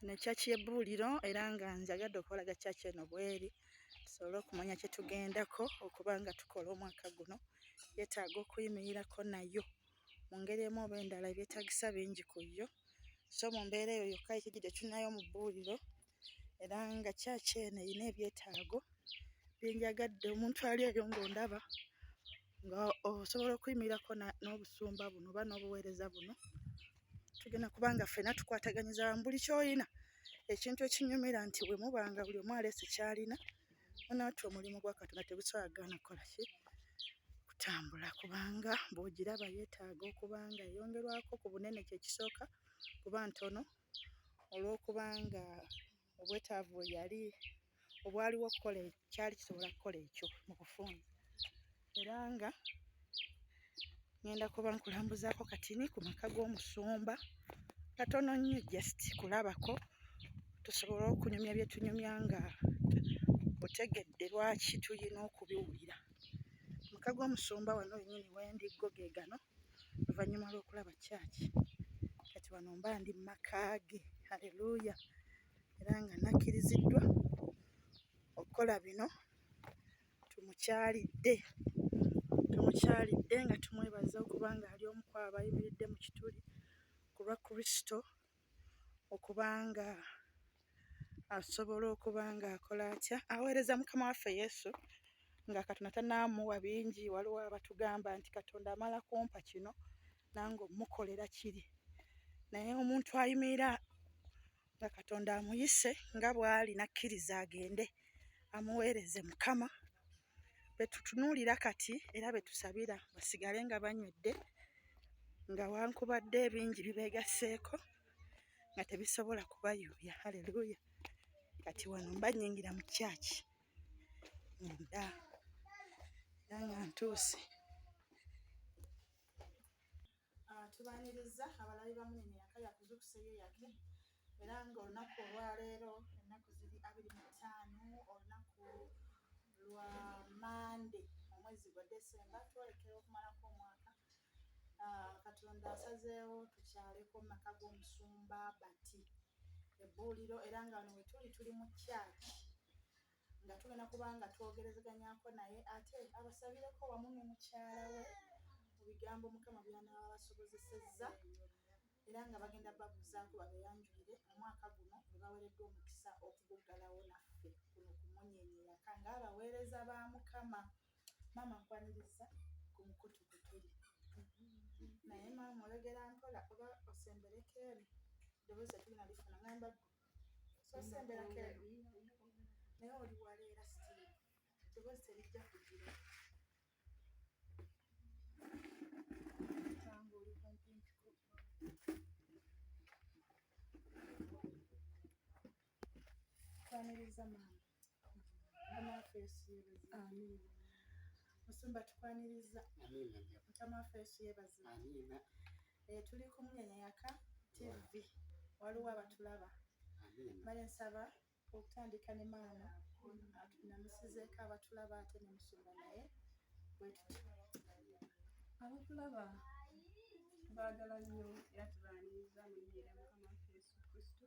Eno kyaki y'ebbuuliro era nga njagadde okubalaga kyaki eno bw'eri tusobole okumanya kye tugendako okuba nga tukola omwaka guno. Yeetaaga okuyimirirako nayo mu ngeri emu oba endala ebyetaagisa bingi ku yo so mu mbeera eyo yokka ye kijjidde tulinayo mu bbuuliro era nga kyaki eno erina ebyetaago bye njagadde omuntu ali eyo ng'ondaba. nga osobola okuyimirirako n'obusumba buno oba n'obuweereza buno tugenda kuba nga ffena tukwataganyiza wamu buli kyoyina ekintu ekinyumira nti bwe muba nga buli omu aleese kyalina onaatya omulimu gwa katonda tegusobola gaana kukola ki kutambula kubanga bw'ogiraba yeetaaga okuba nga eyongerwako ku bunene kye kisooka kuba ntono olw'okuba nga obwetaavu bwe yali obwaliwo okukola kyali kisobola kukola ekyo mu kufuuna era nga ngenda kuba nkulambuzaako katini ku maka g'omusumba katono nnyo just kulabako tusobole okunyumya byetunyumya nga otegedde lwaki tulina okubiwulira maka g'omusumba wano wenyini wendiggo ge gano oluvannyuma lw'okulaba kyaki kati wano mba ndi mu maka ge haleluya era nga nakkiriziddwa okukola bino tumukyalidde tumukyalidde nga tumwebaza okuba nga ali omu kwabo ayimiridde mu kituli ku lwa kristo okuba nga asobola okuba nga akola atya aweereza mukama waffe yesu nga katonda tanaamuwa bingi waliwo abatugamba nti katonda amala kumpa kino nange omukolera kiri naye omuntu ayimirira nga katonda amuyise nga bw'ali nakkiriza agende amuweereze mukama betutunuulira kati era betusabira basigale nga banywedde nga wankubadde ebingi bibeegasseeko nga tebisobola kubayuuya haleluya kati wano mba nyingira mu kyaki munda era nga ntuuse ah, tubaniriza abalabi bamunene yaka yakuzukuseyo yake era nga olunaku olwaleero ennaku ziri abiri mu ttaano olunaku lwa mande omwezi gwa desemba twolekera okumalako omwaka ah, katonda asazeewo tukyaleko mu maka g'omusumba bati ebbuuliro era nga wano wetuli tuli mu kyaki nga tugenda kuba nga twogerezeganyako naye ate abasabireko wamu ne mukyala we mu bigambo mukama byanaaba basobozesezza era nga bagenda babuzaako babeyanjulire mu mwaka guno bwe baweereddwa omukisa okuguggalawo naffe kuno kumunyenyeyaka ng'abaweereza ba mukama maama nkwaniriza ku mukutu gwe tuli naye maama oyogera mpola oba osembereko eri eddoboozi etulina lifuna ngamba gwe so osemberako eri naye oli waleera sitiri eddoboozi terijja kugira kanga oli kumpimpiko kwaniriza maama musumba tukwaniriza mukama waffe yesu yebaziba eh, tuli kumunyanya yaka tv waliwo abatulaba male nsaba okutandika ne maama namusizeeko abatulaba ate nemusumba naye bwetuti abatulaba baagala nnyo era tubaaniriza mu nnyera mukama waffe yesu kristo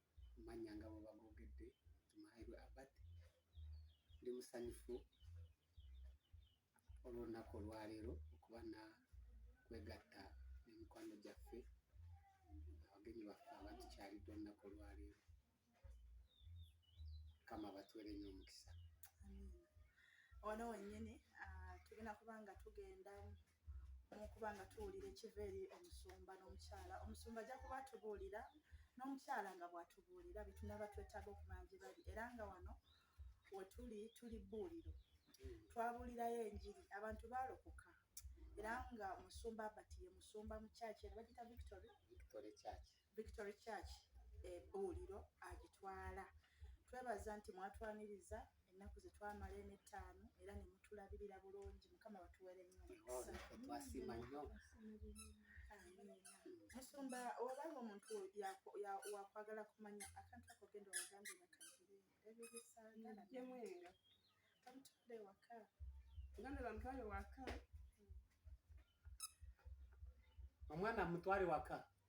amannya nga bwe bagoogedde nti Maherwe Abad. Ndi musanyufu olw'olunaku olwaleero okuba na kwegatta ne mikwano gyaffe abagenyi baffe abatukyalidde olunaku olwaleero kama batwere nyo omukisa wano wenyini ah, tugenda kuba nga tugenda olwokuba nga tuwulira ekiva eri omusumba n'omukyala omusumba ajja kuba atubuulira n'omukyala nga bw'atubuulira bye tunaba twetaaga okumanya gye bali era nga wano we tuli tuli bbuuliro twabuulirayo enjiri abantu baalokoka era nga omusumba abati ye musumba mu kyaki era bagita victory Victory Church ebuuliro agitwala. Twebaza nti mwatwaniriza ennaku ze twamala eno ettaano era ne mutulabirira bulungi. Mukama batuwere nnyo omukisa. Twasiima nnyo. Musumba oba omuntu wakwagala kumanya akantu ako genda obagambe bakagire ebyo bisaagala byemwenga bamutwale ewaka oganda bamutwale waka omwana amutwale waka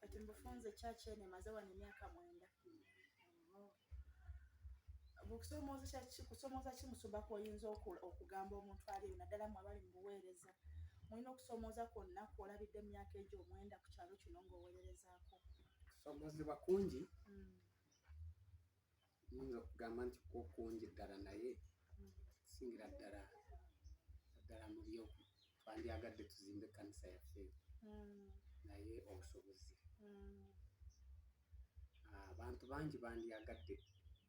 kati mbufunze church eno emaze wano emyaka mwenda kusomooza ki musumba kwoyinza okugamba omuntu ali eyo naddala mu abali mu buweereza mulina okusomooza kwonna kwolabidde mu myaka egyo omwenda ku kyalo kino ng'oweererezaako kusomozebwa kungi mm. nyinza okugamba nti kwokungi ddala naye singira ddala ddala mu byo twandyagadde tuzimbe ekkanisa yaffe hmm. naye obusobozi hmm. ah, abantu bangi bandyagadde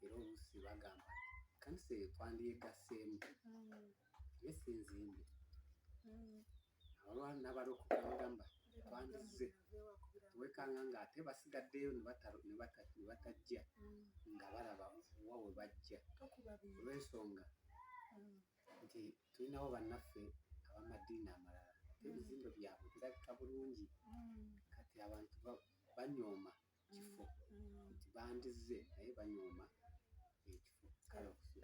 era oluusi bagamba ekkanisa eyo twandyegaseemu hmm. naye si nzimbi mm. abalwa nabalokoka bagamba twandize wekanga nga ate basigaddeyo nebatajja mm. nga balaba wa we bajja olwensonga mm. nti tulinawo bannaffe abamadiini amalala ebizimbe byabwe birabika bulungi kati abantu banyooma kifo mm-hmm. nti bandizze naye banyooma ekifo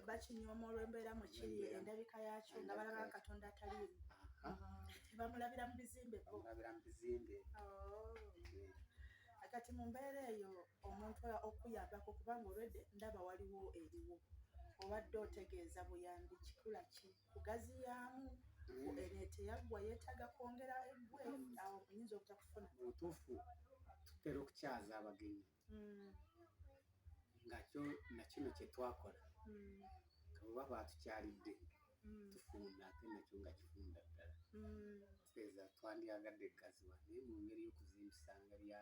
bakinyooma olwembeera mukiri endabika yakyo nga balaba nga katonda ataliimu mm-hmm. bamulabira mu bizimbe bamulabira mu bizimbe oh. kati mu mbeera eyo omuntu okuyambako kubanga olwedde ndaba waliwo eriwo obadde otegeeza buyambi kikula kii kugaziyaamu eno eteyaggwa yeetaaga kwongera eggwe awo oyinza obutakufuna mu butuufu tutera okukyaza abagenyi mm. nga kyo na kino kye twakola mm. kabuba baatukyalidde mm. tufunda ate nakyo nga kifunda ddala teeza twandyagadde gaziwa naye mu ngeri y'okuzimbisa nga lya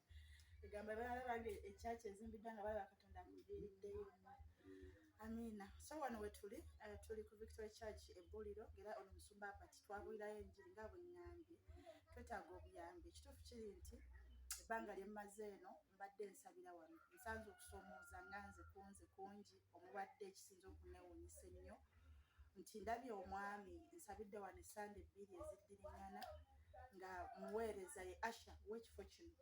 egamba balala bange ekyaki ezimbiddwa nga balaba katonda akudiriddeyo amiina so wano wetuli eh, tuli ku victory church ebbuliro era ono musumba apati twabulirayo enjiri nga bweŋambye twetaaga obuyambi ekituufu kiri nti ebbanga lyemmaze eno mbadde nsabira wano nsanze okusomooza nga nze kunze kungi omubadde ekisinza okunewunyisa ennyo nti ndabye omwami nsabidde wano esande ebbiri eziddiringana nga muweereza ye asha wekifo kino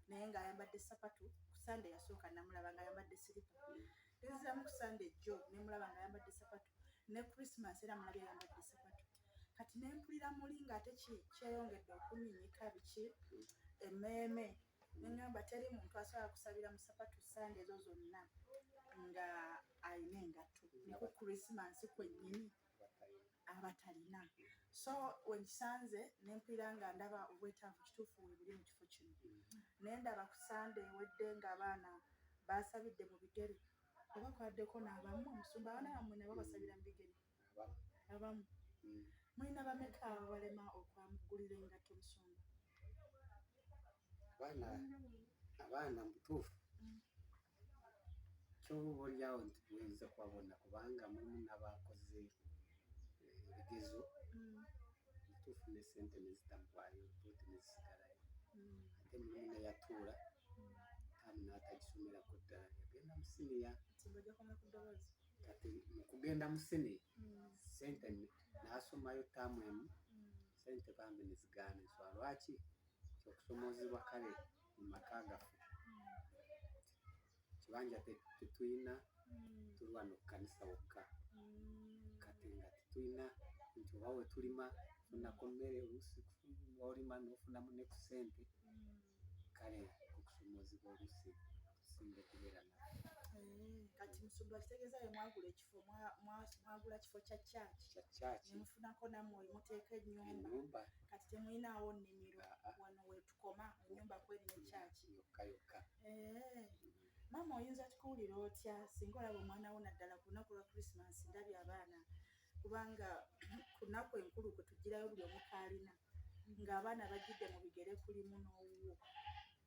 naye ngaayambadde sapatu ku sande yasooka namulaba nga ayambadde siripa neziramu ku sande ejjo nemulaba nga ayambadde sapatu ne christmas era mulabye ayambadde sapatu kati nempulira muli ngaate kyeyongedde okuminyika biki emeeme nengamba teri muntu asobola kusabira musapatu sande ezo zonna nga alina engatto niku krisimansi kwennyini abatalina so wenkisanze nempulira nga ndaba obwetaavu kituufu webuli mu kifo kino naye ndaba ku sande ewedde nga abaana basabidde mu bigere oba kwaddeko naabamu omusumba abaana bamwe nabo basabira mu bigere abamu mm. mulina bameka ababalema okwamugulira engatto musumba abaana abaana mubutuufu mm. kyoba olyawo nti buyinza kubabona kubanga mulimu nabakoze eh, ebigezo mm. mutuufu ne sente nezitamuwayo bote nezisigalayo ate mulimu neyatuula tamu natagisomera ku ddala yagenda musiniya kati mukugenda musini mm. sente nasomayo tamu emu mm. sente bambi nezigana enswa lwaki kyokusomozebwa kale mu maka gaffe kibanja tetulina tulwa nokukanisa wokka kati nga tetulina nti oba wetulima funako mmere olusi olima nofunamu nekusente kale okusomoozebwa olusi okusinga okubeera na eh, kati musumba kitegeeza ye mwagula ekifo mwagula kifo kya kyaki kya kyaki nemufunako namwe muteeka ennyumba kati temulinaawo nnimiro ah, ah. wano wetukoma ennyumba kweri ne kyaki yokka yokka eh. maama oyinza tukuwulira otya singa olaba omwana wo naddala ku lunaku lwa krisimansi ndabye abaana kubanga ku nnaku enkulu kwe tugirayo buli omukaalina ng'abaana bajjidde mu bigere kulimu n'owuwo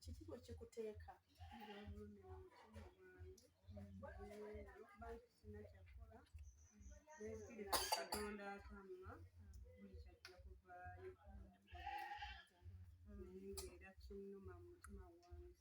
kiki bwe kikuteeka era kinnuma mu mutima gwange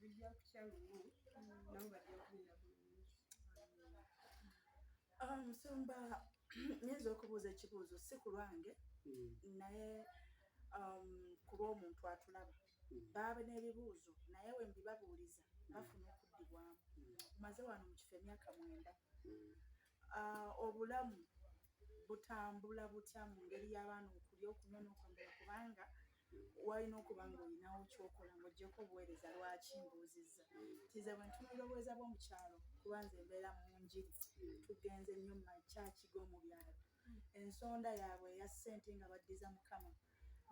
bijja kukya lumu nabo bajja kubeera bulungi ah, musumba nyinza okubuuza ekibuuzo si ku lwange hmm. naye um, kuba omuntu atulaba hmm. baaba n'ebibuuzo naye we mbibabuuliza hmm. bafuna okuddibwamu maze wano mu kifo emyaka mwenda Ah, obulamu butambula butya mu ngeri y'abaana okulya okunywa n'okwambala kubanga walina okuba nga olinawo kyokola ngaogyeko obuweereza lwaki mbuuzizza tize bwe ntunulira obuweereza bw'omu kyalo kuba nze embeera mu njiri tugenze nnyo mu makyaki g'omu byalo ensonda yaabwe eya ssente nga baddiza mukama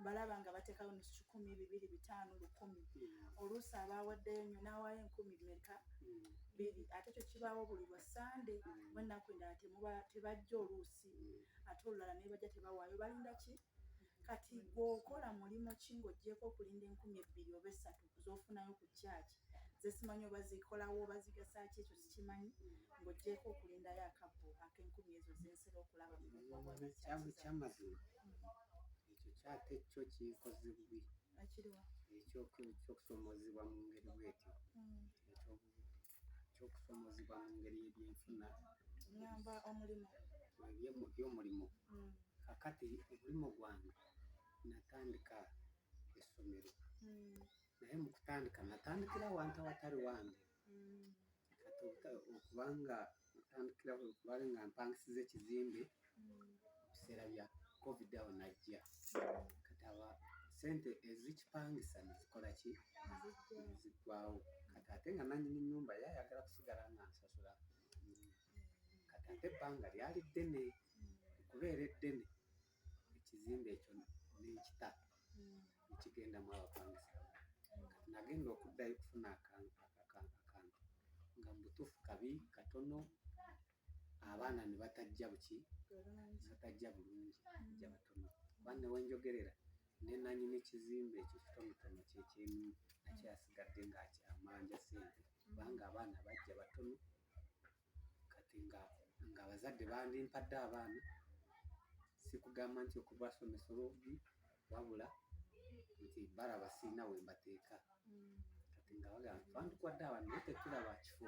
mbalaba nga batekawo nusu kikumi bibiri bitaano lukumi hmm. oluusi abaawaddeyo nyo n'awaayo enkumi meka hmm. biri ate kyo kibaawo buli lwa sande hmm. wennaku endala tebajja oluusi ate olulala naye bajja tebawaayo balinda ki kati gweokola mulimu ki ng'ogyeko okulinda enkumi ebbiri oba essatu z'ofunayo ku church zesimanyi oba zikolawo oba zigasaki ekyo sikimanyi ng'ogyeko okulindayo akabbo ak'enkumi ezo zensera okulaba mukyamazima ekyo kyate kyo kikoze bubi ekyokusomozebwa mu ngeri bwetyo hmm. ekyokusomozebwa mu ngeri ebyenfuna ngamba omulimu by'omulimu hmm. kakati omulimu gwange natandika essomero mm. naye mu kutandika natandikira wantu awatali wange mm. okubanga natandikira kubale nga mpangisiza ekizimbe ebiseera bya covid awo najja kati aba sente ezikipangisa nezikola ki ziggwawo kati ate nga nanyini nyumba yayagala kusigala nga nsasula kati ate ebbanga lyali ddene okubeera eddene buli kizimbe ekyo nenkita nekigendamu abapangisa kati nagenda okuddayo okufuna akantu nga mubutuufu kabi katono abaana nebatajja buki batajja bulungi ja batono kuba newenjogerera nenanyini kizimbe ekyo kitonotono kyekyemu nakyasigadde nga amanja sente kubanga abaana bajja batono. kati nga nga abazadde bandimpadde abaana sikugamba nti okubasomesa obubi wabula nti balaba sirina we mbateeka mm. kati nga bagamba twandikwadde abaana naye tetulaba kifo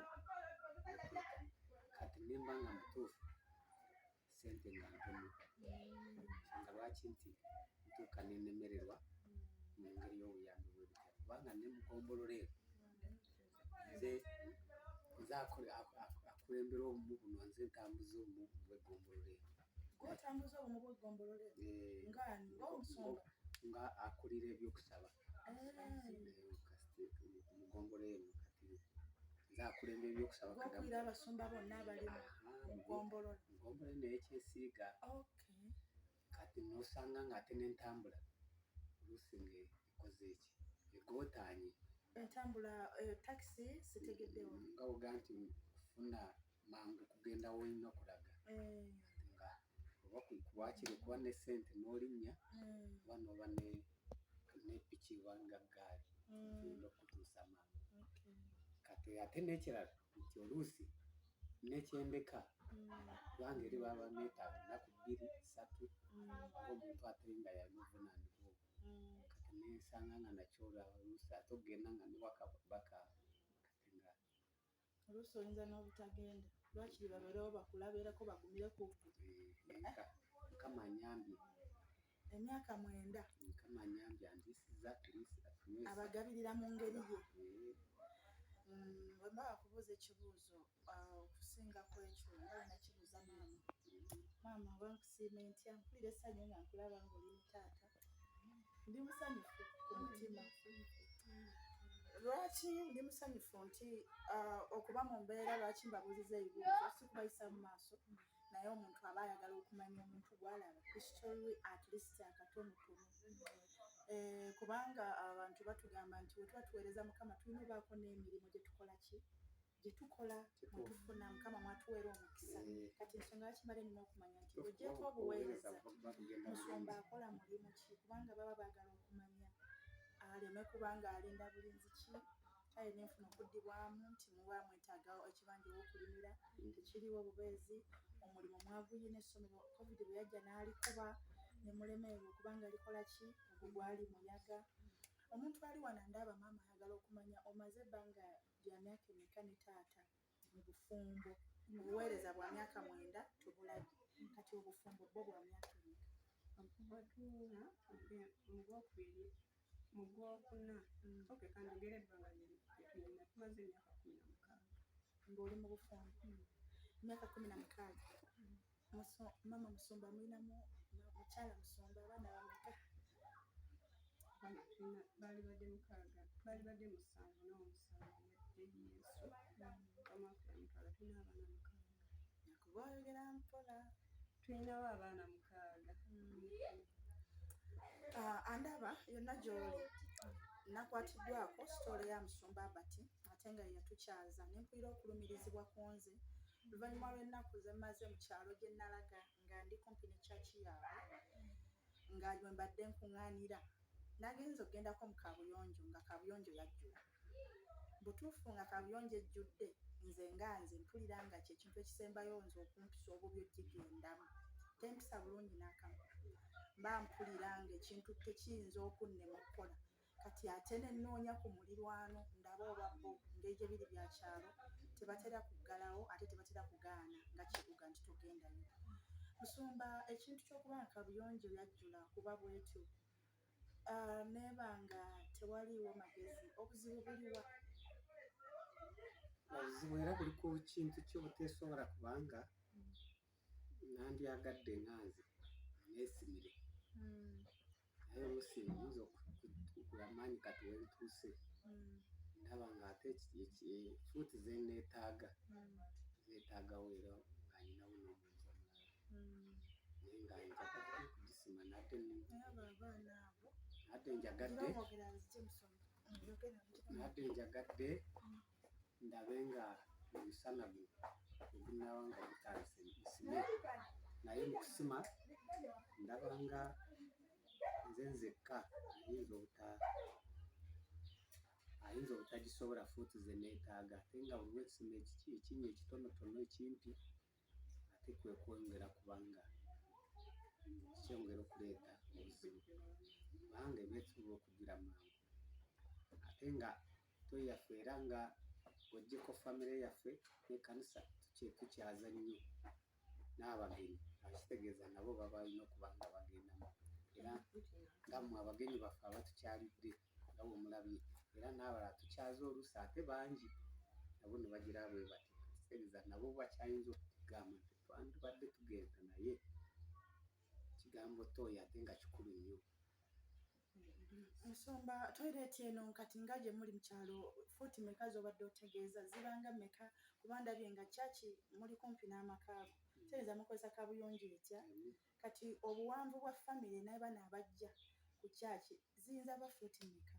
kati nemba nga mutuufu sente nga ntono nsanga lwaki nti ntuuka nenemererwa mu ngeri y'obuyambi bwebitabo kubanga ne mugombolola eno nze nze akulembera obumu buno nze ntambuza obumu bwegombolola eno nga akulira ebyokusaba okulira abasumba bonna abali mu ggombolola ggombolola eno eyekyesiiga kati nosanga ng'ate n'entambula oluusi ng'ekoze eki egotaanye entambula eh, takisi sitegeddeo nga oga nti kufuna mangu kugenda wolina okulaga eh. nga oba kuwakiri okuba ne sente nolinnya hmm. oba noba nepiki wanga gaali hmm. oyina okutuusa mangu kati ate nekirala nti oluusi nekyendeka kubanga eri baba netaaga ennaku bbiri satu omuntu ate nga yalimuvunaanibwa kati nensanga nga nakyolwa oluusi ate okugenda nga newaka baka oluusi oyinza n'obutagenda lwakiri babeerewo bakulabeereko bagumire ku mukama anyambye emyaka mwenda mukama anyambye andisiza abagabirira mu ngeri ye wemba mm, wakubuuza ekibuuzo ah, okusinga kwekyo olina kibuuza maama maama oba nkusiima entya mpulira essanyu nga nkulaba ngaoli mutaata ndi musanyufu ku mutima lwaki ndi musanyufu nti uh, okuba mu mbeera lwaki mbabuuliza ebibuuzo si kubayisa mu maaso naye omuntu aba ayagala okumanya omuntu gwalaba history at least akatonotono eh, kubanga abantu batugamba nti wetuba tuweereza mukama tulina obaako n'emirimu gyetukola ki gye tukola mwe tufuna mukama mwatuweera omukisa eh. kati ensonga yakimala enina okumanya nti ogyeko obuweereza musumba akola mulimu ki kubanga baba baagala okumanya aleme kubanga alinda bulinzi ki kale nenfuna okuddibwamu nti muba mwetaaga ekibanja owokulimira mm. tekiriwo obubeezi omulimu mwaguyina essomero covid bwe yajja n'alikuba ne mulemererwa okubanga likola ki ogwo gwali muyaga omuntu ali wano ndaba maama ayagala okumanya omaze ebbanga Bya myaka emeka ne taata mu bufumbo? Obuweereza bwa myaka mwenda tubulabye. Kati obufumbo bwo bwa myaka emeka? Okuva tuula mu gwokubiri mu gwokuna. Mm. Okay, kanjogere ebbanga lyetuyina tumaze emyaka kumi na mukaaga. Ng'oli mu bufumbo? Mm. Emyaka kumi na mukaaga. Mm. Mama Musumba mulinamu mukyala Musumba abaana bameka? Baali badde mukaaga, baali badde musanvu n'omusanvu yadde Yesu omwaka omutwala tulina abaana mukaaga. Yakuba oyogera mpola. Tulinawo abaana mukaaga. Ah, andaba yonna gy'oli nakwatiddwako sitoola ya Musumba Abati ate nga yeyatukyaza ne mpulira okulumirizibwa ku nze Oluvannyuma lw'ennaku ze mmaze mu kyalo gye nnalaga nga ndi kumpi ne kyaki yaabwe nga we mbadde nkuŋŋaanira, nagenze okugendako mu kaabuyonjo nga kaabuyonjo yajjula. Butuufu nga kaabuyonjo ejjudde, nze nga nze mpulira nga kye kintu ekisembayo nze okumpisa obubi okugigendamu. Tempisa bulungi n'akamu. Mba mpulira ng'ekintu tekiyinza okunnema okukola. kati ate ne nnoonya ku mulirwano ndabe oba bo engeri gye biri bya kyalo tebatera kuggalawo ate tebatera kugaana nga kibuga nti togendayo musumba ekintu ky'okuba nga kabuyonjo yajjula kuba bwetyo ah, neeba nga tewaliiwo magezi obuzibu buliwa obuzibu era buli ku kintu kyo buteesobola kubanga nandyagadde nga nze nesimire hmm. naye omusinga oyinza okukula amaanyi kati wentuuse hmm. ndaba nga ate fuuti zeneetaaga hmm. zeetaagawo era nga nyinawo n'omuntu omulala naye nga njagadde kugisima nate nate njagadde nate njagadde ndabe nga omusana guno ogunaaba nga gutandise nsime naye mu kusima ndaba nga nze nzekka ayinza obuta ayinza obutagisobola fuuti ze neetaaga ate nga buli lwekisima ekinnya ekitonotono ekimpi ate kwe kwongera kubanga kyongera okuleeta obuzibu kubanga ebyetuba okugira mangu ate nga toyaffe era nga ojjeko famire yaffe nekanisa tukyaza nnyo n'abagenyi akitegeeza nabo babalina okuba nga bagendamu era nga mwe abagenyi baffe abatukyalidde nga bwe mulabye era n'abalala tukyaze oluusi ate bangi nabo ne bagira bwe bati kitegeza nabo bakyayinza okutugamba nti twandibadde tugenda naye ekigambo tooyo ate nga kikulu nnyo nsomba toireeti eno nkati nga gye muli mu kyalo fuuti meka z'obadde otegeeza zibanga meka kuba ndabye nga kyaki muli kumpi n'amakaago kitegeeza mukozesa kabuyonjo etya Kati obuwanvu bwa family nabano abajja ku church ziyinza ba foot meka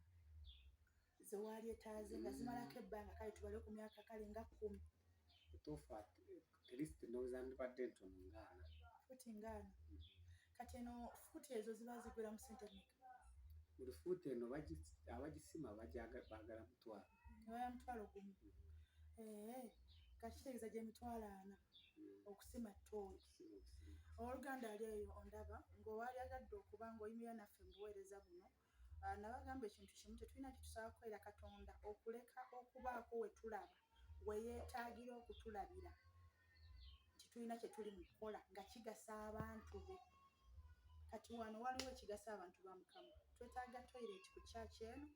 zewali etaze nga zimalako ebbanga kale tubale ku myaka kale nga kumi tufa atlist ndowoza ndibadde ntono ngaana foot ngaana mm. kati eno foot ezo ziba zigula mu sente meka buli foot eno abagisima bagala mutwalo nebaya mutwalo gumu mm. eh, kati kitegeeza gyemitwalo ana mm. okusima tooyi owoluganda ali eyo ondaba ngaowali agadde okuba ngaoyimira naffe mu buweereza buno ah, nabagamba ekintu kimu tetulina kitusaba kukwera katonda okuleka okubaako wetulaba weyetaagira okutulabira nti tulina kyetuli mu kukola nga kigasa abantu be kati wano waliwo ekigasa abantu ba mukama twetaaga toilet ku kyaki eno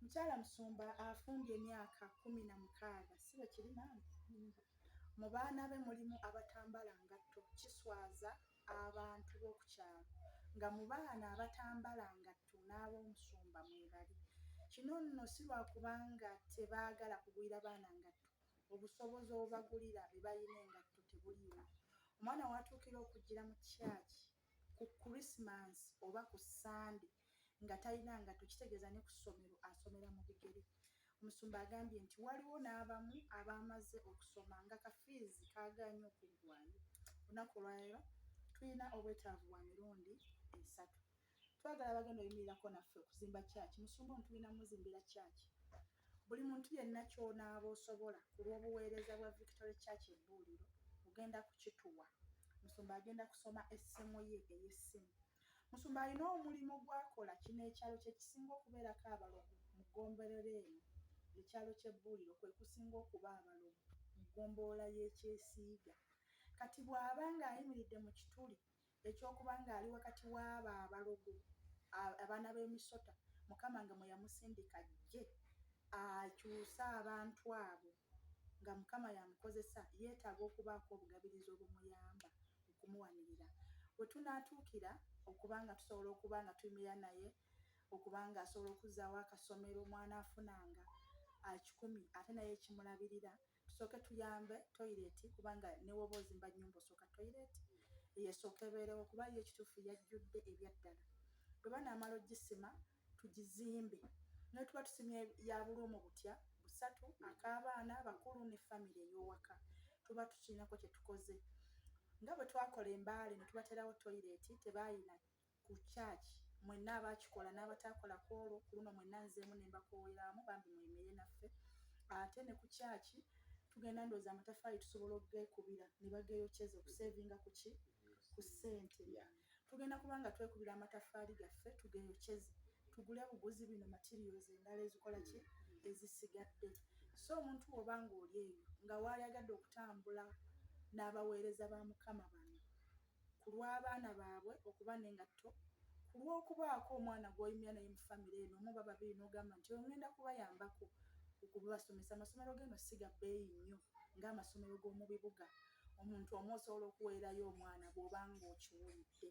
mukyala musumba afumbye emyaka kumi na mukaaga si bwe kiri maama Mu baana be mulimu abatambala ngatto kiswaza abantu bokukyalo nga mu baana abatambala ngatto n'abomusumba mwebali. Kino nno si lwakubanga tebaagala kugulira baana ngatto, obusobozi obubagulira bye balina engatto tebuliiwo. Omwana w'atuukira okujjira mu church ku Christmas oba ku Sunday nga talina ngatto kitegeeza ne ku ssomero asomera mu bigere. Omusumba agambye nti waliwo n'abamu abaamaze okusoma nga kafiizi kaagaanye okuggwaayo. Olunaku olwaleero tulina obwetaavu bwa mirundi esatu. Twagala abagenda oyimirirako naffe okuzimba kyaki. Musumba ono tulina muzimbira kyaki Buli muntu yenna ky'onaaba osobola ku lw'obuweereza bwa Victory Church Ebbuuliro ogenda kukituwa. Musumba agenda kusoma essimu ye ey'essimu. Musumba alina omulimu gw'akola. Kino ekyalo kye kisinga okubeerako abalogo mu ggombolola eno. Ekyalo ky'Ebbuuliro kwe kusinga okuba abalogo mu ggombolola y'e Kyesiiga. Kati bw'aba ng'ayimiridde mu kituli Eky'okuba ng'ali wakati w'abo abalogo, abaana b'emisota, Mukama nga mwe yamusindika ajje akyuse abantu abo nga Mukama y'amukozesa, yeetaaga okubaako obugabirizi obumuyamba okumuwanirira. We tunaatuukira okuba nga tusobola okuba nga tuyimirira naye okuba ng'asobola okuzzaawo akasomero mw'anaafunanga akikumi ate naye ekimulabirira, tusooke tuyambe toyireti kubanga newoba ozimba nyumba osooka toyireti yesooka ebeerewo kuba yo ekituufu yajjudde ebyaddala bwe banaamala ogisima tugizimbe naye tuba tusimye yabuluumu butya busatu ak'abaana bakulu ne famire ey'owaka tuba tukiinako kye tukoze nga bwe twakola embaale ne tubateerawo toyireti tebaayina ku church mwenna abakikola n'abataakola ku olwo ku luno mwenna nzeemu ne mbakooweraamu bambi mweyimirire naffe ate ne ku church tugenda ndowooza amataffaali tusobola okugekubira ne bageeyokyeza okuseevinga ku ki ku ssente tugenda kuba nga twekubira amataffaali gaffe tugeeyokyeze tugule buguzi bino materials endala ezikola ki ezisigadde so omuntu woba ng'oli eyo nga waayagadde okutambula n'abaweereza ba mukama bano ku lw'abaana baabwe okuba n'engatto, ku lw'okubaako omwana gw'oyimira naye mu famire eno omu oba babiri n'ogamba nti oyo ng'enda kubayambako okubasomesa. Amasomero g'eno si ga bbeeyi nnyo ng'amasomero g'omu bibuga omuntu omu osobola okuweerayo omwana bw'oba ng'okiwulidde.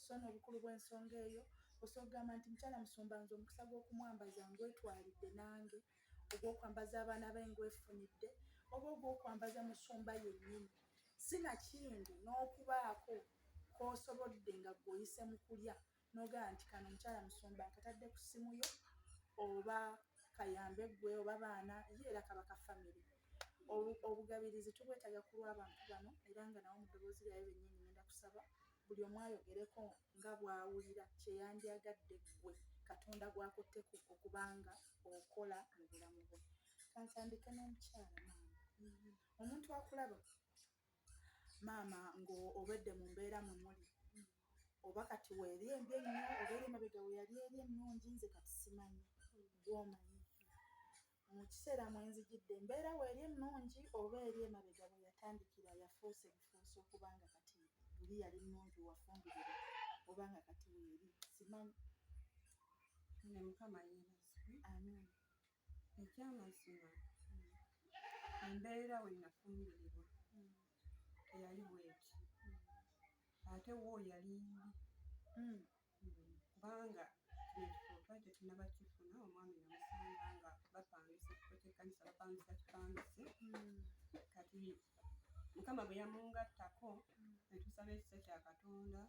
Sso n'obukulu bw'ensonga eyo, osobola okugamba nti, Mukyala Musumba nze omukisa gw'okumwambaza ngwetwalidde nange. ogw'okwambaza abaana be ngwefunidde oba ogw'okwambaza musumba yennyini si nakindi n'okubaako k'osobodde nga gweoyise mu kulya n'ogamba nti kano omukyala musumba nkatadde ku ssimu yo oba kayambe gwe oba baana ye era kaba ka famiry obugabirizi tubwetaga ku lw'abantu bano era nga nawo mu ddoboozi lyayo bennyini ngenda kusaba Buli omu ayogereko nga bw'awulira kye yandyagadde ggwe Katonda gw'akutteko okuba nga okola mu bulamu bwo. Ka ntandike n'omukyala maama. Omuntu akulaba maama ng'obedde mu mbeera mwe muli oba kati weeri embi ennyo oba eri emabega we yali eri ennungi nze kati simanyi gw'omanyi. Mu kiseera mwe nzijidde embeera weeri ennungi oba eri emabega we yatandikira yafuuse bufuusi okuba nga kati luli yali nnungi wafumbirira oba nga kati weeri simanyi. Ne Mukama yeebazibwe. Amiina. Ekyamazima embeera we nafumbirirwa teyali bweti ate wo yali mbi kubanga nekikopa tetunaba kifuna omwami namusanga nga bapangisa ekifo kyekkanisa bapangisa kipangise hmm. kati mukama bwe yamungattako hmm. netusaba ekisa kya katonda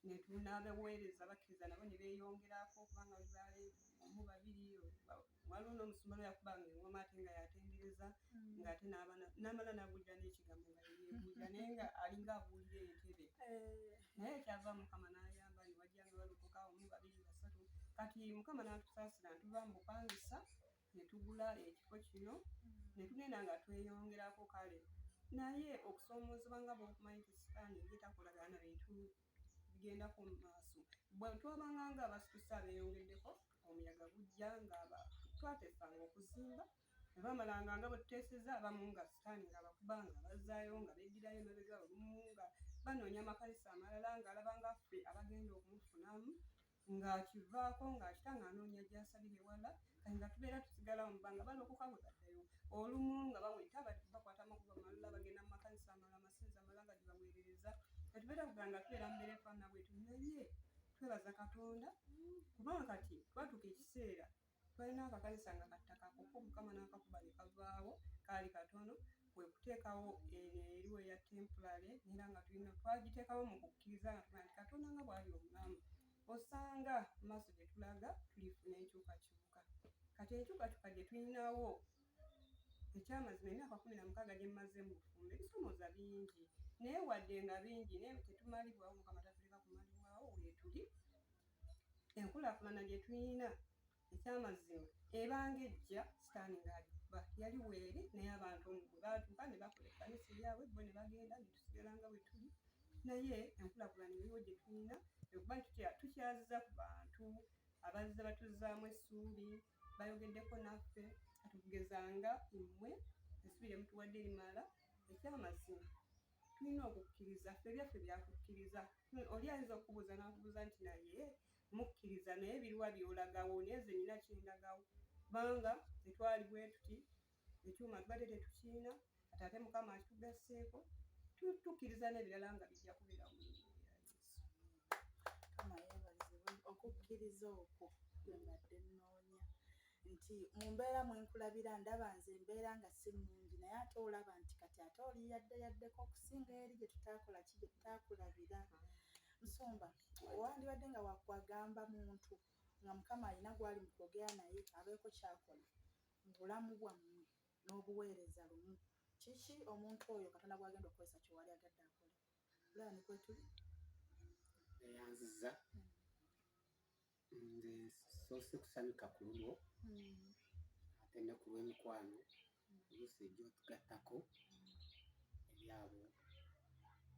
netunabeweereza bakkiriza nabo ne beeyongerako kubanga bali omu babiri waliwo n'omusumba lwe yakubanga engoma ate nga yatendereza mm. ng'ate n'abaana n'amala n'abuulira n'ekigambo nga yebuulira naye nga alinga abuulira entebe eh. naye kyava mukama n'ayamba ne wajjanga balokoka omu babiri basatu kati mukama n'atusaasira ntuva mu bupangisa ne tugula ekifo kino mm. ne tugenda nga tweyongerako kale naye okusoomoozebwa nga bwokumanyi nti sitaani ye takolagana bintu bigenda ku maaso bwe twabanga nga abasitusa beeyongeddeko omuyaga gujja nga twatesanga okuzimba ne bamalanga nga bwe tuteeseza abamu nga sitaani nga bakuba nga bazzaayo nga beddirayo emabega olumu nga banoonya amakanisa amalala ng'alaba nga ffe abagenda okumufunamu ng'akivaako ng'akita ng'anoonya gy'asalira ewala kati nga tubeera tusigala mu bbanga balokoka bwe baddayo olumu nga baweta bakwata amakubo amalala bagenda mu makanisa amala amasinza amala nga gibaweerereza kati beera kuga nga tubeera mbeera efaana bwetu naye twebaza katonda kubanga kati twatuuka ekiseera Twalina akakanisa nga ka ttaka kokka Omukama n'akakuba ne kavaawo, kaali katono, kwe kuteekawo eno eri eya temporary era nga tulina twagiteekawo mu kukkiriza nga tugamba nti Katonda nga bw'ali omulamu osanga mu maaso gye tulaga tulifuna enkyukakyuka. Kati enkyukakyuka gye tulinawo ekyamazima emyaka kumi na mukaaga gye mmaze mu bufumbo ebisomooza bingi naye wadde nga bingi naye tetumalibwawo Mukama tatuleka kumalibwawo weetuli enkulaakulana gye tulina ekyamazima ebanga ejja sitaani ng'alikuba yali weeri naye abantu omu gwe baatuuka ne bakola ekkanisa eyaabwe bo ne bagenda ne tusigala nga bwe tuli naye enkulaakulana eriwo gye tulina ekuba nti tukyaziza ku bantu abazze batuzzaamu essuubi bayogeddeko naffe katugezanga mmwe essuubi lye mutuwadde limala ekyamazima tulina okukkiriza ffe ebyaffe byakukkiriza oli ayinza okukubuuza nakubuuza nti naye mukkiriza naye biriwa byolagawo naye nze nina kyendagawo kubanga tetwali bwetuti ekyuma tubadde tetukiina atate mukama akitugasseeko tukkiriza n'ebirala nga bijja kubeera mu okukkiriza okwo bwembadde nnoonya nti mu mbeera mwe nkulabira ndaba nze embeera nga si nnungi naye ate olaba nti kati ate oli yadde yaddeko okusinga eri gye tutaakola ki gye tutaakulabira nsumba wandibadde nga wakwagamba muntu nga mukama alina gwali mu kwogera naye abeeko kyakola mu bulamu bwammwe n'obuweereza lumu kiki omuntu oyo katonda gwagenda okukozesa kyewali agadde akole olaba nekwetuli eyanziza mm. nze soose kusanyuka ku lulwo hmm. ate ne ku lw'emikwano oluusi ejja otugattako ebyabo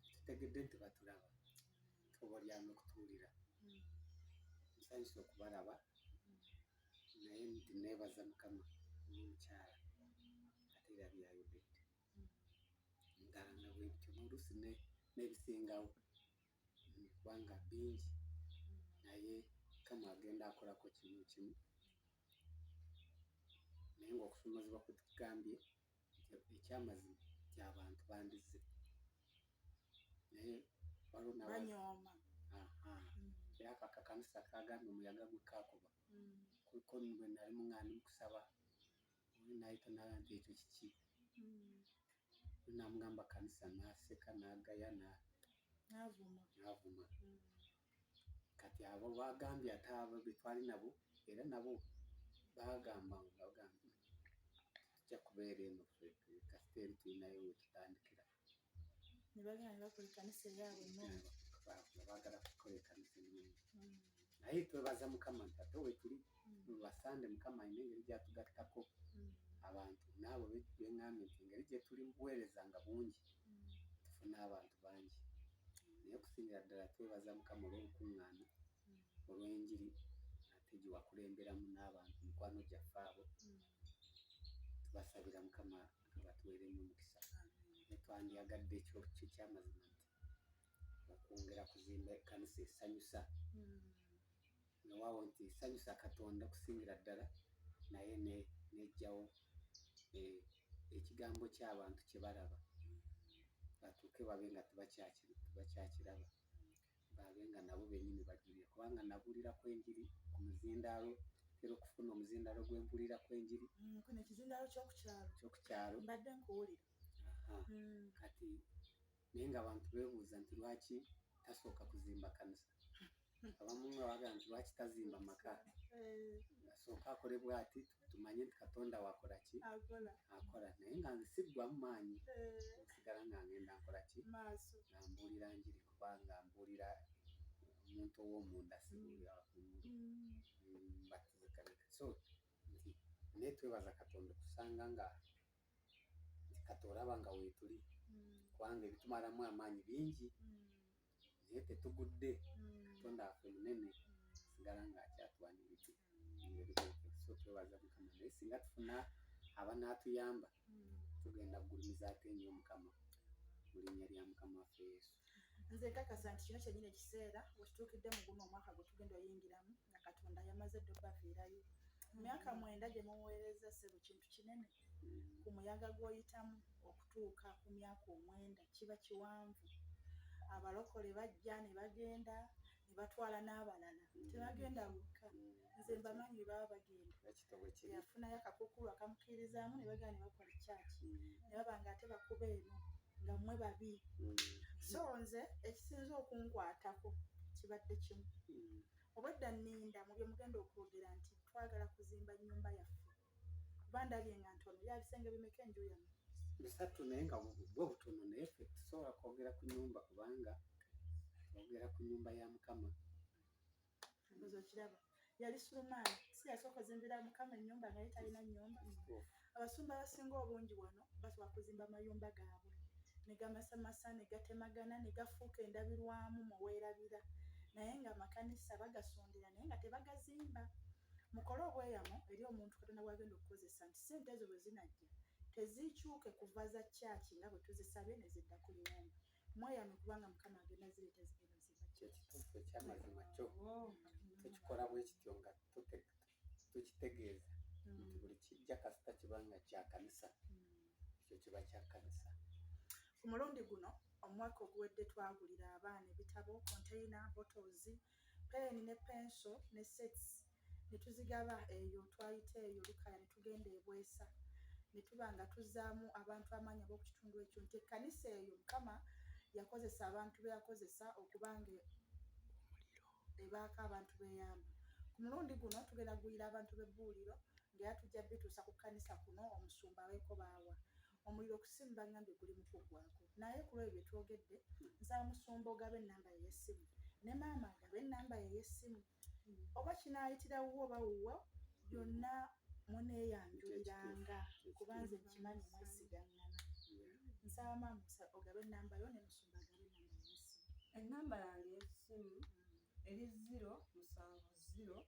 tutegedde nti batulaba oba olyama okutuwulira hmm. nsanyusa okubalaba hmm. naye nti neebaza mukama n'omukyala ate era byayogedde nga nga bwebityo n'oluusi n'ebisingawo kubanga bingi naye mukama agenda akolako kimu kimu naye ngaokusumazibwa kutugambye ekyamazima nti abantu bandizze naye waliwo nabanyooma era ako akakanisa kagambye omuyaga gwekakuba mm. kuliko bwenali muŋani mukusaba nayita nayanja ekyo kiki hmm. namugamba kanisa naseka nagaya navuma hmm. kati abo bagambye ate abo betwali nabo era nabo bagamba bagamba tujja kubeera eno kasiteeri tulinayo wetutandikira ne bagenda ne bakola ekkanisa eyaabwe ennungi baagala kukola ekkanisa ennungi mm. naye twebaza mukama nti ate wetuli mm. basande mukama alina engeri gyatugattako mm. abantu naabo beŋambye nti engeri gyetuli mubuweereza nga bungi tufuna abantu bangi naye okusingira ddala twebaza mukama olw'olukuŋŋaana olw'enjiri ate gye wakulemberamu n'abantu mikwano gyaffe abo tubasabira mukama abatuweere nnyo omukisa netwandyagadde ekyo kyo kyamazima nti okwongera kuzimba ekkanisa esanyusa newaawo nti esanyusa katonda okusingira ddala naye nejjawo eh, ekigambo ky'abantu kye balaba batuuke babe nga tebakyakiraba baabe nga nabo bennyini bajulira kubanga nabuulira ku enjiri ku muzindaalo era okufuna omuzindaalo gwe mpulira ku enjiri mm, kuno ekizindaalo kyokukyalo mbadde nkuwulira mm. kati naye nga abantu beebuuza nti lwaki tasooka kuzimba kanisa abamu nga bagamba nti lwaki tazimba maka eh. asooka akole bwati tumanye nti katonda wakolaki akola naye nga nsiggwamu maanyi eh. nsigala nga ngenda nkolaki nga mbuulira njiri kuba nga mbuulira omuntu ow'omunda sibuulira wakungulu batizikanika mm. mm, so nti naye twebaza katonda okusanga nga nti kati olaba nga weetuli mm. kubanga ebitumalamu amaanyi bingi naye tetugudde katonda afe munene sigala nga akyatwaniridde so twebaza mukama naye singa tufuna abanaatuyamba tugenda kugulumiza ate nyo mukama mu linnya lya mukama waffe yesu nze nkakasa nti kino kyenyini ekiseera wekituukidde mu guno omwaka gwe tugenda oyingiramu nga katonda yamaze dde obaviirayo myaka mwenda gye muweereza sebo kintu kinene ku muyaga gw'oyitamu okutuuka ku myaka omwenda kiba kiwanvu. Abalokole bajja ne bagenda ne batwala n'abalala, tebagenda bokka. Nze mbamanyi baba bagenda, yafunayo akakuukulu akamukiirizaamu ne bagenda ne bakola ekyaki ne baba nga ate bakuba eno nga mmwe babi. So nze ekisinza okunkwatako kibadde kimu, obwedda nninda mu bye mugenda okwogera nti twagala kuzimba nnyumba yaffe. kuba ndabye nga ntono ya bisenge bimeka enju yamu bisatu naye nga bwo butono naye fe tusobola kwogera ku nyumba kubanga twogera ku nyumba ya mukama mbuzo kiraba yali sulumaani si yasooka ozimbira mukama enyumba naye talina nyumba abasumba abasinga obungi wano basobola kuzimba amayumba gaabwe negamasamasa negatemagana negafuuka endabirwamu muweerabira naye nga amakanisa bagasondera naye nga tebagazimba mukole obweyamo eri omuntu katonda bwagenda okukozesa nti sente ezo bwe zinajja tezikyuke kuva za kyaki nga bwe tuzisabye ne zidda ku limumba mweyame kubanga mukama agenda zireeta zigenda zibakyekitukwe kyamazima kyo oh. tukikola bwe kityo nga tukitegeeza mm. nti buli kijja kasita kiba nga kya kanisa mm. ekyo kiba kya kanisa ku mulundi guno omwaka oguwedde twagulira abaana ebitabo konteyina botozi mm. peeni ne penso ne sets ne tuzigaba eyo twayita eyo lukaya ne tugenda ebwesa ne tuba nga tuzzaamu abantu amaanyi ab'oku kitundu ekyo nti ekkanisa eyo mukama yakozesa abantu be yakozesa okuba nga ebaako abantu beyamba ku mulundi guno tugenda kugulira abantu b'ebbuuliro ngaera tujja bituusa ku kkanisa kuno omusumba aweeko baawa omuliro ku ssimu bangambye guli mu kuggwako naye ku lwebyo bye twogedde nsaba musumba ogaba ennamba ye y'essimu ne maama agaba ennamba ye y'essimu oba kinaayitira wuwo oba wuwo byonna muneeyanjuliranga kuba nze nkimanyi mwesigaŋŋana nsaba maama ogaba ennamba yo ne musumba agaba ennamba ye y'essimu ennamba yange y'essimu eri ziro musanvu ziro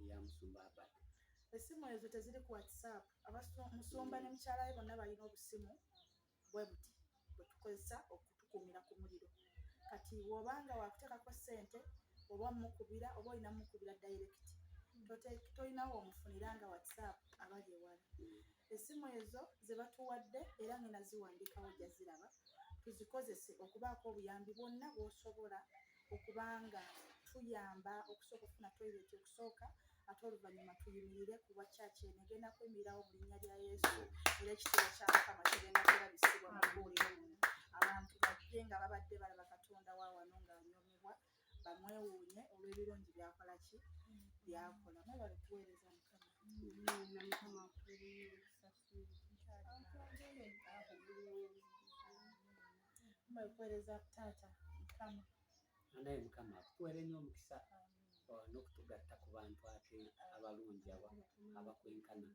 eya musumba abad esimu ezo teziri ku whatsapp musumba ne mukyala we bonna balina obusimu bwe buti bwe tukozesa okutukuumira ku muliro kati wobanga wakuteekako ssente oba omukubira oba olina mukubira direct tolinawo omufunira nga whatsapp abali ewala esimu ezo zebatuwadde era ngena ziwandikawo jaziraba tuzikozese okubaako obuyambi bwonna bwosobola okuba nga tuyamba okusooka okufuna toyireti okusooka ate oluvannyuma tuyimirire ku bwa kyaki eno egenda kwemirirawo mu linnya lya yesu era ekitero kya mukama kigenda kulabisibwa mu buuliro muno abantu bajje nga babadde balaba katonda wa wano ng'anyomebwa bamwewuunye olw'ebirungi byakola ki byakola mwebale kuweereza mukama mbakuweereza taata mukama anaye mukama akutuwere nnyo omukisa oh, n'okutugatta ku bantu ate abalungi aba abakwenkana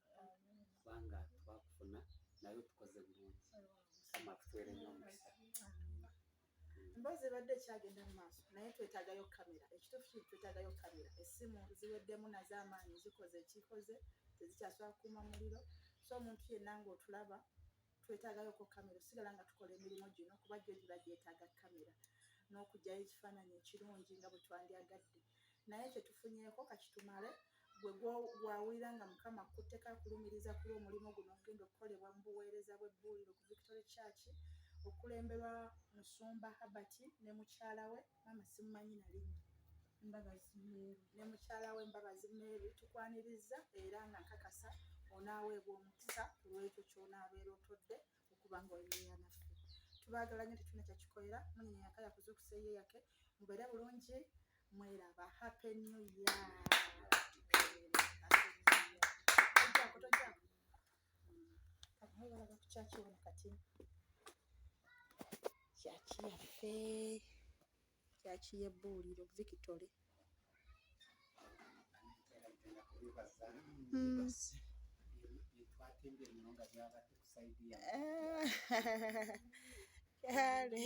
kubanga twakufuna naye otukoze bulungi mukama akutuwere nnyo omukisa emboozi ebadde ekyagenda mu maaso naye twetagayo kamera ekituufu kiri twetagayo kamera essimu ziweddemu nazo amaanyi zikoze ekikoze tezikyasobola kukuuma muliro so omuntu yenna ngaotulaba twetagayoko kamera osigala nga tukola emirimu gino kuba gyo giba gyetaaga kamera n'okugyayo ekifaananyi ekirungi nga bwe twandyagadde naye kyetufunyeeko kakitumale gwe gwawulira nga mukama kutteka akulumiriza kuli omulimu guno ogenda okukolebwa mu buweereza bw'ebbuuliro ku victory church okulemberwa musumba habert ne mukyala we maama simumanyi nalinya mbabazi meeru ne mukyala we mbabazi meeru tukwaniriza era nga nkakasa onaaweebwa omukisa ku lwekyo ky'onaabeera otodde okuba nga oyimeera naffe tubaagala nyo tetuna kyakikolera munyenya yaka yakuza okuseeyo yake mubeere bulungi mweraba happy new year Abalaga ku kyaki wano kati kyaki yaffe kyaki y'ebbuuliro victory hmm. kale